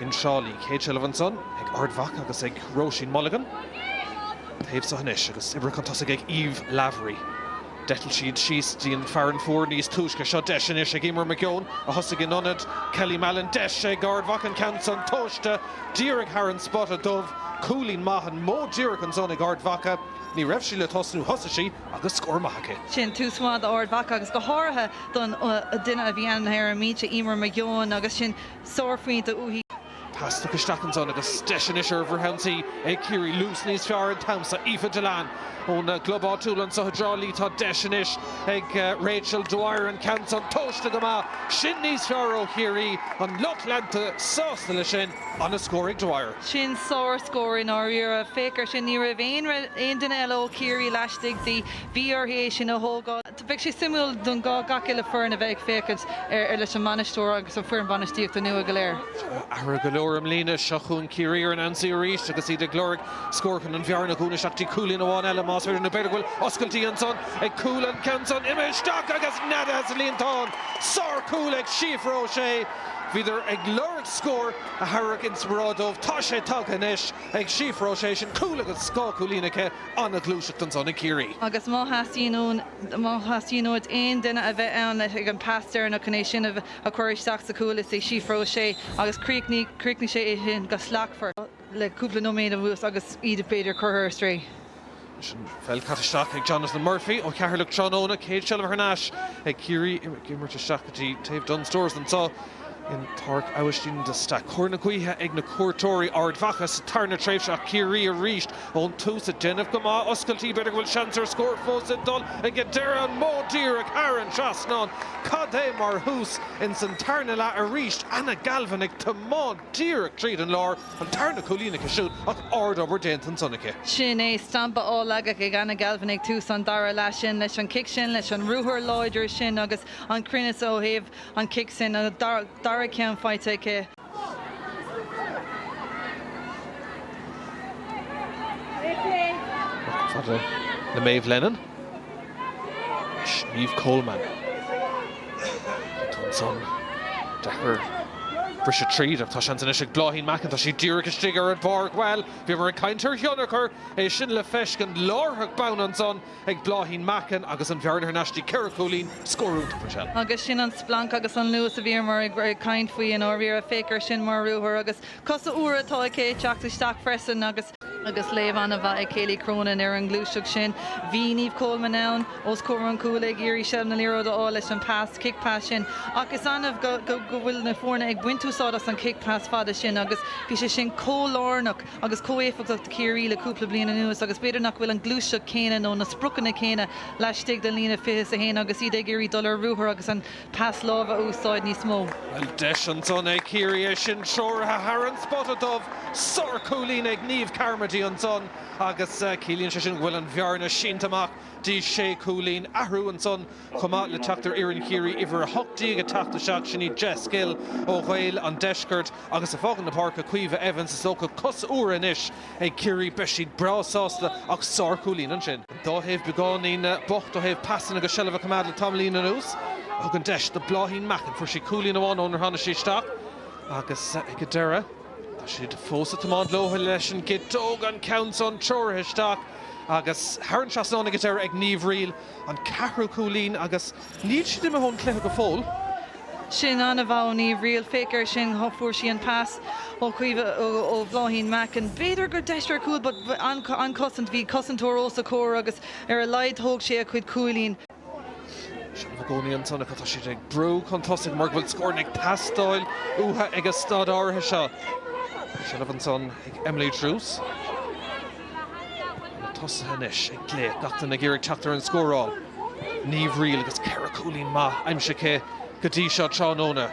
In Trá Lí. Céad seilbh ansan, ag Ard Mhacha agus ag Róisín Mulligan, taobh so anois, agus oibrithe chun tosaigh ag Eve Lavery. D'eitil siad síos dtí an Fearann Fuar níos túisce. Seo deis anois ag Eimear McGeown, a thosaigh in ionad Kelly Mallon. Deis ag Ard Mhacha an ceann san tomhaiste díreach thar an spota dubh. Cúilín maith an modh díreach ansan ag Ard Mhacha. Ní raibh sí le tosnú, thosaigh sí agus scór maith aici. Sin tús maith d'Ard Mhacha agus go háirithe don duine a bhí ann ar an mbinse, Eimear McGeown, agus sin. sárphointe uaithi. Pas tagtha isteach ansan agus deis anois ar fhrithionsaí ag Ciarraí luas níos fearr an t-am so. Aoife Dillane ón gclub áitiúil anso i dTrá Lí. Tá deis anois ag Rachel Dwyer an ceann san tomhaiste go maith. Sin níos fearr ó Chiarraí. An lucht leanta sásta leis sin. An-scór ag Dwyer. Sin sárscór i ndáiríre. Féach ar sin. Ní raibh aon duine eile ó Chiarraí laistigh di. Bhí uirthi é sin a thógáil. Bheadh sé suimiúil don gach uile foireann a bheith ag féachaint ar leis an mbainisteoir agus an fhoireann bhainistíochta nua go léir. Athruithe go leor i mbliana. Seo chugainn Ciarraí ar an ionsaí arís agus iad ag lorg scór chun an bhearna a dhúnadh isteach dtí cúilín amháin eile más féidir. Nó b'fhéidir go bhfuil oscailtí ansan ag cúl an ceann san imithe isteach agus neadaithe sa líontán. Sárchúl ag Síofra Ó Sé. Bhíodar ag lorg scór a thabharfadh inspioráid dóibh. Tá sé tagtha anois ag Síofra Ó Sé. Sin cúl agus dhá chúilín aici. An-ghluaiseacht ansan ag Ciarraí. Agus má theastaíonn, má theastaíonn uait aon duine a bheith ann ag an pas deireanach chun é sin a a chur isteach sa chúl is é Síofra Ó Sé agus críochnaigh críochnaigh sé é sin go slachtmhar le cúpla nóiméad anuas agus iad b'fhéidir curtha ar strae. An pheil caite isteach ag Jonathan Murphy ó Cheatharlach tráthnóna, céad seilbh thar n-ais ag Ciarraí ag imirt isteach go dtí taobh Dunnes Stores anso. in Páirc Aibhistín de Staic. Cóir na gaoithe ag na cuairteoirí, Ard Mhacha sa tarna tréimhse ach Ciarraí arís ón tús ag déanamh go maith. Oscailtí, b'fhéidir go bhfuil seans ar scór fós ag dul ag an deireadh. An modh díreach thar an trasnán? Cad é mar thús ins an tarna leath arís. Anna Galvin ag tiomáint díreach tríd an lár. An tarna cúilín aici siúd ach ardobair déanta ansan aici. Sin é stampa á leagadh ag Anna Galvin ag tús an dara leath. Sin leis an cic sin, leis an ruathar láidir sin agus an cruinneas ó thaobh an cic sin, an dara ceann faighte aici. Le Maeve Lennon is Niamh Coleman. Tá ansan deacair briseadh tríd ach tá seans anois ag Bláithín Mackin, tá sí díreach istigh ar an bpáirc. Bhuel, bhíomar ag caint ar thionchar, é sin le feiscint láithreach bonn ansan. ag Bláithín Mackin agus an bhearna thar n-ais dtí ceithre chúilín, scór iontach mar sin. Agus sin an splanc agus an luas a bhíomar ag caint faoi i ndáiríre, féach air sin mar ruathar agus cosa úra atá aici ag teacht isteach freisin agus, agus léamh an-mhaith ag Kayleigh Cronin ar an ngluaiseacht sin, bhí Niamh Coleman ann os comhair an chúil ag iarraidh seilbh na liathróide a fháil leis an pas, kick pass sin ach is annamh go, go, go bhfuil na foirne ag baint úsáid as an kick pass fada sin agus bhí sé sin chomh lárnach. agus chomh héifeachtach do Chiarraí le cúpla bliain anuas agus b'fhéidir nach bhfuil an ghluaiseacht chéanna nó na spriocanna céanna laistigh den líne fiche is a haon agus iad ag iarraidh dul ar ruathar agus an pas láimhe a úsáid níos mó. Bhuel, deis ansan ag Ciarraí é sin, treoraithe thar an spota dubh, sárchúilín ag Niamh Carmody ansan agus ciallaíonn sé sin go bhfuil an bhearna sínte amach dtí sé chúilín. Athrú ansan Chomh maith le teacht ar fhoireann Chiarraí Uimhir 18 ag teacht isteach, sin í Jess Gill ó Ghaeil an Deiscirt agus ag fágaint na páirce Caoimhe Evans. Is dócha cosa úra anois ag Ciarraí, beidh siad breá sásta ach sárchúilín ansin. Dhá thaobh beagáinín bocht ó thaobh pasanna agus seilbh a choimeád le tamaillín anuas. Thug an deis do Bhláithín Mackin, fuair sí cúilín amháin ónar tháinig sí isteach agus ag an deireadh tá siad fós ag tiomáint leotha leis an gciteog, an ceann san treoraithe isteach agus thar an trasnán ag an deireadh ag Niamh Reel. an ceathrú cúilín agus níl siad imithe ón chluiche go fóill. Sin an-mhaith ó Niamh Reel. Féach air sin, fuair sí an pas ó Chaoimhe, ó Bhláithín Mackin. B'fhéidir gur deis ar chúl but an chosaint, bhí cosantóir os a comhair agus ar a laghad thóg sí a cuid cúilín. Seilbh i gcónaí ansan ach tá siad ag brú chun tosaigh mar go bhfuil scóranna ag teastáil uatha ag an staid áirithe seo. Seilbh ansan ag Emily Druse. tosaithe anois ag glaoch, gach duine ag iarraidh teacht ar an scóráil. Niamh Reel agus ceithre chúilín maith aimsithe aici go dtí seo tráthnóna.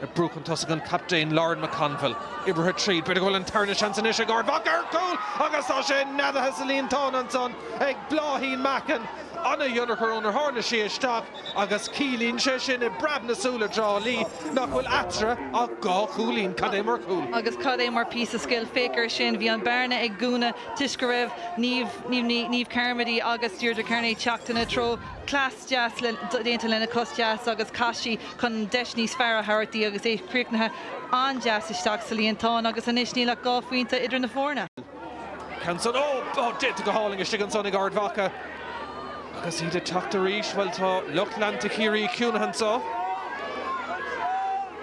Ag brú chun tosaigh an captaen Lauren McConville. Oibrithe tríd, b'fhéidir go bhfuil an tarna seans anois ag Ard Mhacha ar chúl agus tá sé neadaithe sa líontán ansan ag Bláithín Mackin. Ana-thionchar ónar tháinig sí isteach. Agus ciallaíonn sé sin, i bpreabadh na súl i dTrá Lí, nach bhfuil eatarthu ach dhá chúilín. Cad é mar chúl! Agus cad é mar phíosa scil! Féach air sin, bhí an bearna ag dúnadh toisc go raibh Niamh Carmody agus Deirdre Kearney ag teacht ina treo. Cleas deas déanta lena cos deas agus chas sí chun deis níos fearr a thabhairt di agus é críochnaithe an-deas isteach sa líontán agus anois níl ach dhá phointe idir na foirne. An ceann san, ó, déanta go hálainn istigh ansan ag Ard Mhacha. Agus iad ag teacht arís, bhuel tá lucht leanta Chiarraí ciúnaithe anso.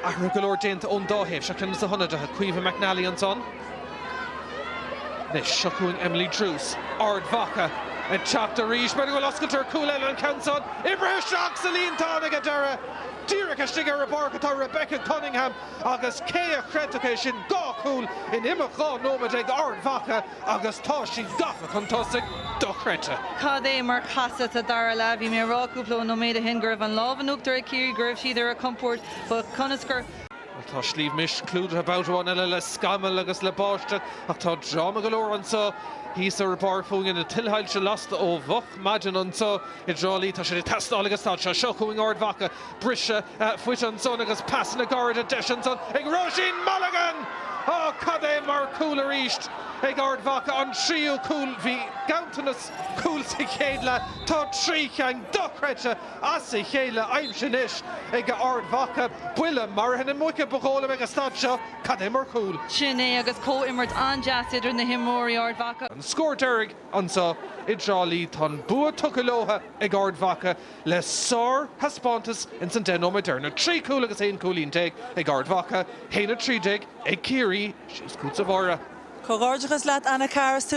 Athruithe go leor déanta ón dá thaobh, seo ceann dos na hionadaithe, Caoimhe McNally ansan. Anois, seo chugainn Emily Druse, Ard Mhacha ag teacht arís, b'fhéidir go bhfuil oscailt ar chúl eile an ceann san, oibrithe isteach sa líontán ag an deireadh! Díreach istigh ar an bpáirc atá Rebecca Cunningham. Agus cé a chreidfeadh é sin, dhá chúl in imeacht dhá nóiméad ag Ard Mhacha agus tá siad gafa chun tosaigh. Dochreidte. Cad é mar chasadh sa dara leath. Bhí mé ag rá cúpla nóiméad o shin go raibh an lámh in uachtar ag Ciarraí, go raibh siad ar a gcompord. But conas gur. Bhuel, tá Sliabh Mis clúdaithe babhta amháin eile le scamaill agus le báisteach ach tá dráma go leor anso thíos ar an bpáirc fúinn na tuilshoilse lasta ó mhoch maidin anso i dTrá Lí. Tá siad ag teastáil ag an staid seo. Seo chugainn Ard Mhacha. Briseadh fúithi ansan agus pasanna gairide deis ansan ag Róisín Mulligan! Á, cad é mar chúl arís ag Ard Mhacha, an tríú cúl. Bhí ganntanas cúl sa chéad leath. Tá trí cheann dochreidte as a chéile aimsithe anois ag Ard Mhacha. Buille maraithe na muice ba dhóigh liom ag an staid seo. Cad é mar chúl. Sin é agus comhimirt an-deas idir na himreoirí Ard Mhacha. An scór deiridh anso i dTrá Lí. Tá an bua tugtha leotha ag Ard Mhacha. le sárthaispeántas ins an deich nóiméad deireanach, trí chúl agus aon chúilín déag ag Ard Mhacha, a haon a 13 ag Ciarraí síos chugatsa a Mháire. Comhghairdeachas leat Anna Carr is tú.